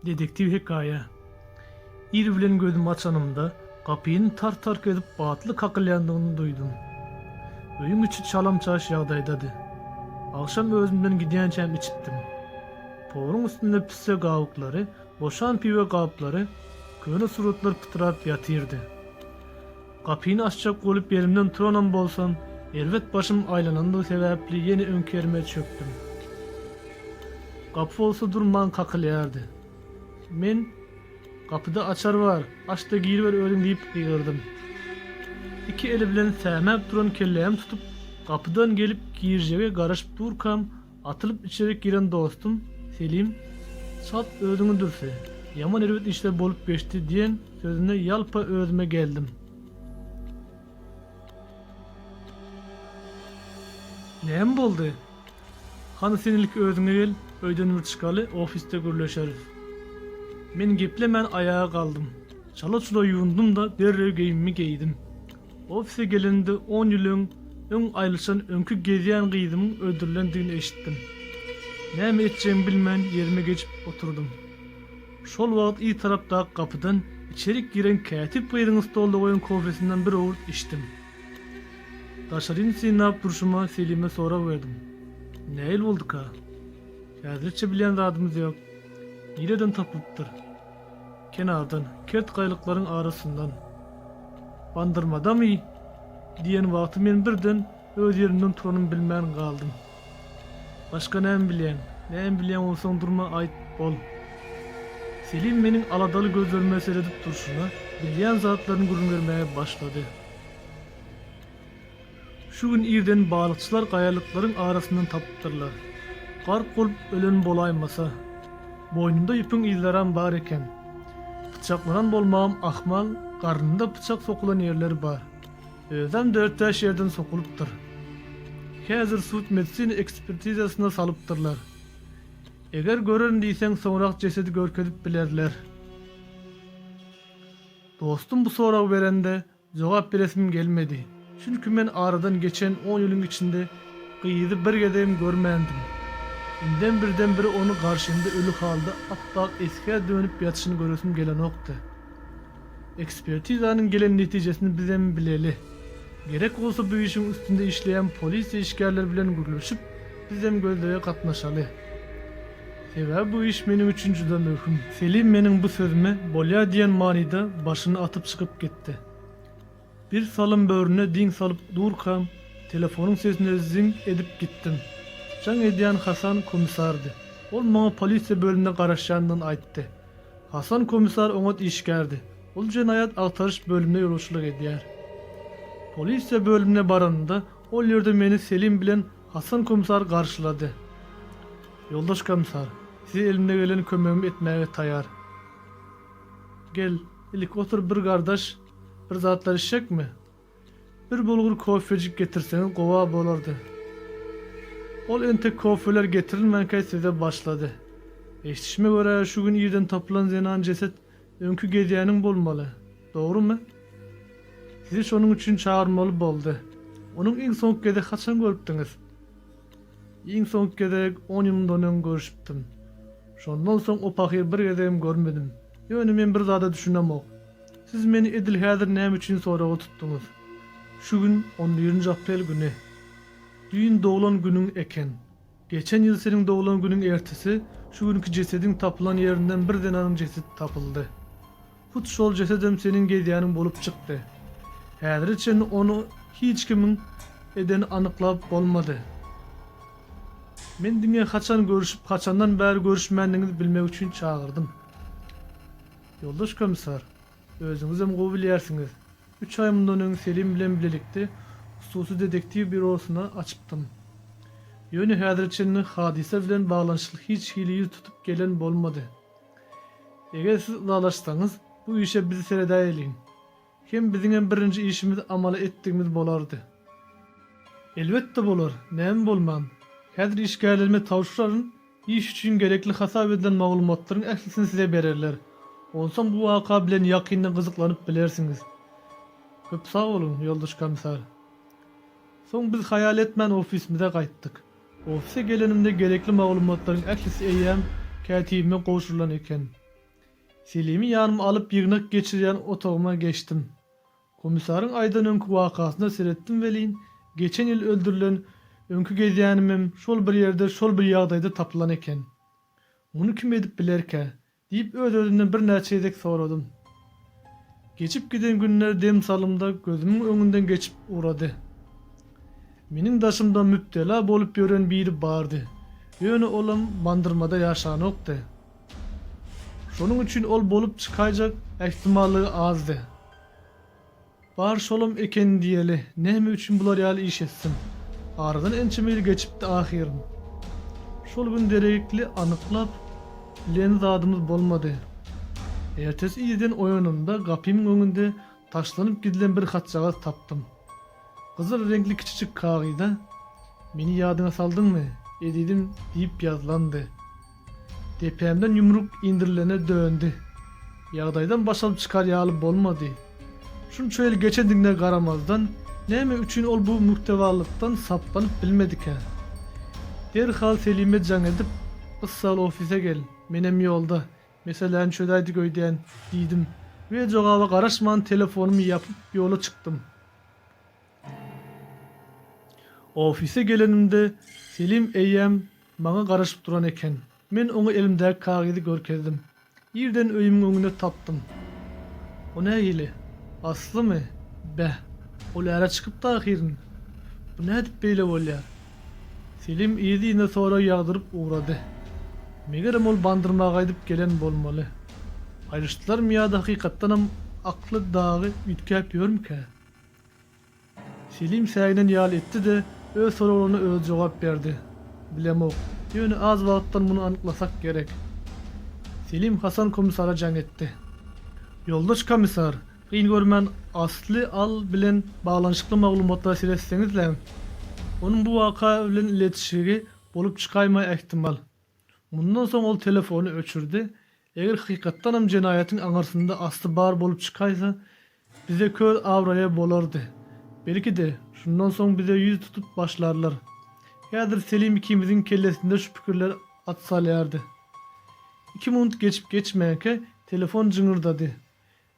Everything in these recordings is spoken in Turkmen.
Dedektiw hekaýa Ir bilen gözümi açanymda, gapyny tar-tark edip batly kakylýandygyny duýdum. Öýüň içi çalam-çaş ýagdaýdady. Agşam özümden gidýänçäm içipdim. Poluň üstünde pisse gabyklary, boşan piwe gaplary, köne suratlar pytrap ýatyrdy. Gapyny açjak bolup ýerimden turanam bolsam, erbet başym aýlanandygy sebäpli ýene öňki ýerime çökdüm. Gapy bolsa durman kakylýardy. Men, Gapyda açar bar, aç-da giriber özüň diýip gygyrdym. Iki eli bilen sämäp duran kellämi tutup, gapydan gelip girjege garaşyp durkam, Atylyp içerik giren dostum Selim çalt özüňi dürse, ýaman erbet işler bolup geçdi diýen sözüne ýalpa özüme geldim. Näme boldy? Hany sen ilki özüňe gel, öýden bir çykaly, ofisde gürleşeris. Men geplemän aýaga galdym. Çala-çula ýuwundym-da derrew geýimimi geýdim. Ofise gelenimde on ýylyň öň aýylyşan öňki gezýän gyzymyň öldürilendigini eşitdim. Näme etjegimi bilmän ýerime geçip oturdym. Şol wagt yz tarapdaky gapydan içerik giren kätip gyzyň stolda goýan kofesinden bir owurt içdim. Daşaryny synlap durşuma Selime sorag berdim. Nähili bolduka? Häzirlikçe bilýän zadymyz ýok. Nireden tapylypdyr? Kenardan, kert gaýlyklaryň arasyndan, Bandyrmadamy? diýen wagty men birden öz ýerimden turanym bilmän galdym. Başga näme bilýäň? Näme bilýäň onsoň durma aýt, bol. Selim meniň aladaly gözlerime seredip durşuna, bilýän zatlaryny gürrüň bermäge başlady. Şu gün irden balykçylar gaýalyklaryň arasyndan tapypdyrlar. Gark bolup ölen bolaýmasa. Boýnunda ýüpüň yzlaram bar eken. Pyçaklanan bolmagam ahmal, garnynda pyçak sokulan ýerleri bar. Özem dört-bäş ýerden sokulypdyr. Häzir sud-medisina ekspertizasyna salypdyrlar. Eger görerin diýseň soňrak jesedi görkezip bilerler. Dostum bu soragy berende Jogap beresim gelmedi. Çünki men aradan geçen on ýylyň içinde gyzy bir gezegem görmändim. Indem birden-bir ony garşymda öli halda ap-ak esgä dönüp ýatyşyny göresim gelenokdy. Ekspertizanyň gelen netijesini bizem bileli. Gerek bolsa bu işiň üstünde işleýän polisiýa işgärleri bilen gürleşip, bizem gözlege gatnaşaly. Sebäbi bu iş meniň üçin juda möhüm. Selim meniň bu sözüme bolýa diýen manyda başyny atyp çykyp gitdi. Bir salym böwrüne diň salyp durkam, telefonyň sesine zyň edip gitdim. Jaň edýän Hasan komissardy. Ol maňa polisiýa bölümine garaşýandygyny aýtdy. Hasan komissar oňat işgärdi. Ol jenaýat agtaryş bölümine ýolbaşçylyk edýär. Polisiýa bölümine baranymda, ol ýerde meni Selim bilen Hasan komissary garşylady. Ýoldaş komissar, size elimde gelen kömegimi etmäge taýar. Gel, ilik otur bir gardaş, bir zatlar içjekmi? Bir bulgur kofejik getirseňiz gowa bolardy. Ol entek kofeler getirilmänkä söze başlady. Eşdişime görä, şu gün irden tapylan zenan jeset Öňki gezýäniň bolmaly, dogrumy? Sizi şonuň üçin çagyrmaly boldy. Onuň iň soňky gezek haçan görüpdiňiz? Iň soňky gezek on ýyl mundan öň görüşipdim. Şondan soň o pahyry bir gezegem görmedim. Ýöne men bir zada düşünemok. Siz meni edil häzir näme üçin soraga tutduňyz? Şu gün on birinji aprel güni. Düýn doglan günüň eken. Geçen ýyl seniň doglan günüň ertesi şu günki jesediň tapylan ýerinden bir zenanyň jesedi tapyldy. Hut şol jesedem seniň gezýäniň bolup çykdy. Häzire çenli ony hiç kimiň edeni anyklap bolmady. Men diňe haçan görüşip, haçandan bäri görüşmändigiňizi bilmek üçin çagyrdym. Ýoldaş komissar, Özüňizem gowy bilýärsiňiz. Üç aý mundan öň Selim bilen bilelikde hususy detektiw býurosyny açypdym. Ýöne häzire çenli hadysa bilen baglanyşykly hiç hili ýüz tutup gelen bolmady. Eger siz ylalaşsaňyz, bu işe biz seredäýeliň. Hem biziňem birinji işimiz amala etdigimiz bolardy. Elbetde bolar, näme bolman. Häzir işgärlerime tabşyraryn. Iş üçin gerekli hasap edilen maglumatlaryň ählisini size bererler. Onsoň bu waka bilen ýakyndan gyzyklanyp bilersiňiz. Köp sag boluň, ýoldaş komissar. Soň biz haýal etmän ofisimize gaýtdyk. Ofise gelenimde gerekli maglumatlaryň ählisi eýýäm kätibime gowşurylan eken. Selimi ýanyma alyp ýygnak geçirýän otagyma geçdim. Komissaryň aýdan öňki wakasyna seretdim welin, geçen ýyl öldürilen, öňki gezýänimem şol bir ýerde şol bir ýagdaýda tapylan eken. Muny kim edip bilerkä? diýip öz-özümden birnäçe gezek soradym. Geçip giden günler dem salymda gözümiň öňünden geçip ugrady. Meniň daşymda mübtela bolup ýören biri bardy, ýöne olam Bandyrmada ýaşanokdy. Şonuň üçin ol bolup çykaýjak ähtimallygy azdy. Bar şolam eken diýeli, näme üçin bular ýaly iş etsin? Aradan ençeme ýyl geçipdi ahyryn. Şol gün deregikli anyklap bilen zadymyz bolmady. Ertesi irden oýanymda gapymyň öňünde taşlanyp gidilen bir hatjagaz tapdym. Gyzyl reňkli kiçijik kagyza Meni ýadyňa saldyňmy, ezidim diýip ýazylandy. Depämden ýumruk indirilene döndi. Ýagdaýdan baş alyp çykar ýaly bolmady. Şunça ýyl geçendigine garamazdan, näme üçin ol bu mürtewalykdan saplanyp bilmedikä? Derhal Selime jaň edip, Yssal ofise gel, menem ýolda, meseläni çözäýdik öýdýän, diýdim we jogaba garaşman telefonymy ýapyp ýola çykdym. Ofise gelenimde Selim eýýäm Maňa garaşyp duran eken. Men oňa elimdäki kagyzy görkezdim. Irden öýümiň öňünde tapdym. O nähili? Aslymy? Beh, ol äre çykypdy ahyryn. Bu nädip beýle bolýar? Selim yz-yzyna sorag ýagdyryp ugrady. Megerem ol bandyrma gaýdyp gelen bolmaly. Aýryşdylarmy ýa-da hakykatdanam akly dagy üýtgäp ýörmükä? Selim säginen ýaly etdi-de, öz soraglaryna özi jogap berdi. Bilemok. Ýöne az wagtdan muny anyklasak gerek. Selim Hasan komissara jaň etdi. Ýoldaş komissar, kyn görmän Asly Al bilen baglanyşykly maglumatlary seretseňiz-läň. Onuň bu waka bilen iletişigi bolup çykaýmagy ähtimal. Mundan soň ol telefony öçürdi. Eger hakykatdanam jenaýatyň aňyrsynda asly bar bolup çykaýsa, bize köz abraýa bolardy. Belki-de, şundan soň bize ýüz tutup başlarlar. Häzir Selim ikimiziň kellesinde şu pikirler at salýardy. Iki munut geçip-geçmänkä telefon jyňyrdady.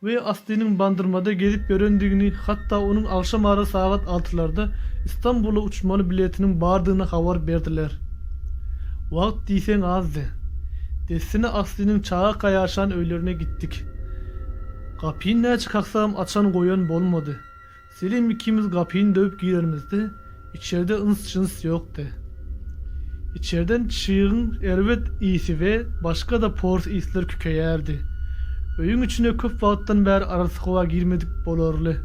we Aslynyň Bandyrmada gezip ýörendigini, hatda onuň agşam ara sagat altylarda Istanbula uçmaly biletiniň bardygyny habar berdiler. Wagt diýseň azdy. Dessine Aslynyň çagaka ýaşan öýlerine gitdik. Gapyny näçe kaksam açan-goýan bolmady. Selim ikimiz gapyny döwüp girenimizde, içerde yns-jyns ýokdy. Içerden çygyň erbet ysy we başga-da pors yslar kükeýärdi. Öýüň içine köp wagtdan bäri arassa howa girmedik bolarly.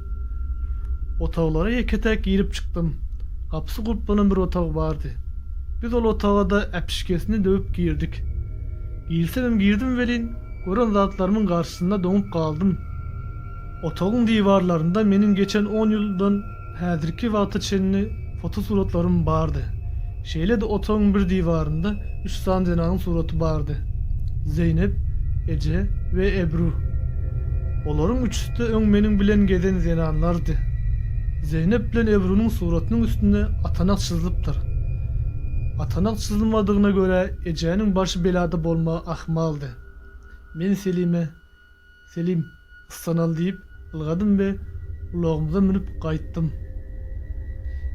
Otaglara ýeke-täk girip çykdym. Gapysy gulplanan bir otag bardy. Biz ol otaga-da äpişgesini döwüp girdik. Girsemem girdim welin, gören zatlarymyň garşysynda doňup galdym. Otagyň diwarlarynda meniň geçen on ýyldan häzirki wagta çenli fotosuratlarym bardy. Şeýle-de otagyň bir diwarynda üç sany zenaň suraty bardy. Zeýnep, Eje we Ebru. Olaryň üçüsi-de öň meniň bilen gezen zenanlardy. Zeýnep bilen Ebrunyň suratynyň üstünde atanak çyzylypdyr. Atanak çyzylmadygyna görä, ejäniň başy belada bolmagy ahmaldy. Men Selime, Selim, yssanaly diýip, ylgadym we ulagymyza münüp gaýtdym.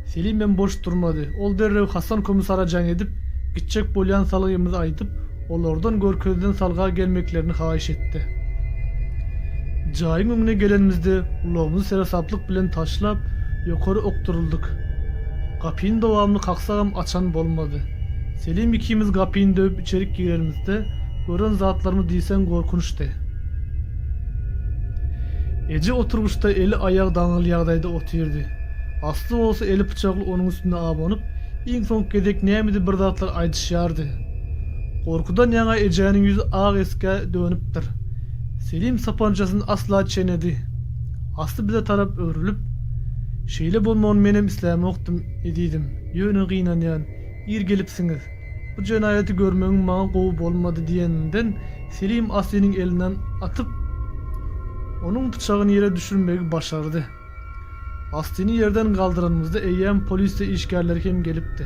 Selimem boş durmady. Ol derrew Hasan komissara jaň edip, gitjek bolýan salgymyzy aýdyp, olardan Görkezden salga gelmeklerini haýyş etdi. Jaýyň öňüne gelenimizde ulagymyzy seresaplyk bilen taşlap, ýokary okduryldyk. Gapyny dowamly kaksagam açan bolmady. Selim ikimiz gapyny döwüp içerik girenimizde, Gören zatlarymy diýseň gorkunçdy. Eje oturgyçda eli aýagy daňyl ýagdaýda otyrdy. Asly bolsa eli pyçakly onuň üstüne abanyp, iň soňky gezek nämedi bir zatlar aýdyşýardy. Gorkudan ýaňa ejäniň ýüzi ak esgä dönüpdir. Selim sapançasyny asla çenedi. Asly bize tarap öwrülip, Şeýle bolmagyny menem islämokdym, ezizim, ýöne gynanýan, ir gelipsiňiz. Bu jenaýaty görmegim maňa gowy bolmady diýeninden, Selim Aslynyň elinden atyp, onuň pyçagyny ýere düşürmegi başardy. Aslyny ýerden galdyranymyzda eýýäm polisiýa işgärleri hem gelipdi.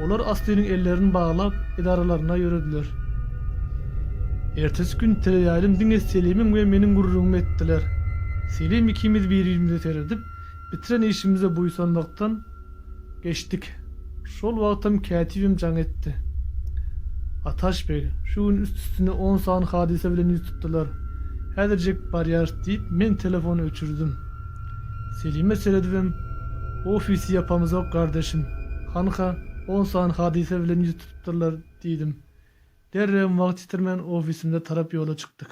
Olar Aslynyň ellerini baglap, edaralaryna ýörediler. Ertesi gün teleýaýlym diňe Selimiň we meniň gürrüňimi etdiler. Selim ikimiz bir-birimize seredip, bitiren işimize buýsanmakdan, Geçdik. Şol wagtam kätibim jaň etdi. Ataş beg, şu gün üst-üstüne on sany hadysa bilen ýüz tutdular. Häzirjek barýarys, diýip, men telefony öçürdim. Selime seredibem, Ofisy ýapamyzok, gardaşym. Hanha, on sany hadysa bilen ýüz tutupdyrlar, diýdim. Derrewem wagt ýitirmän ofisimize tarap ýola çykdyk.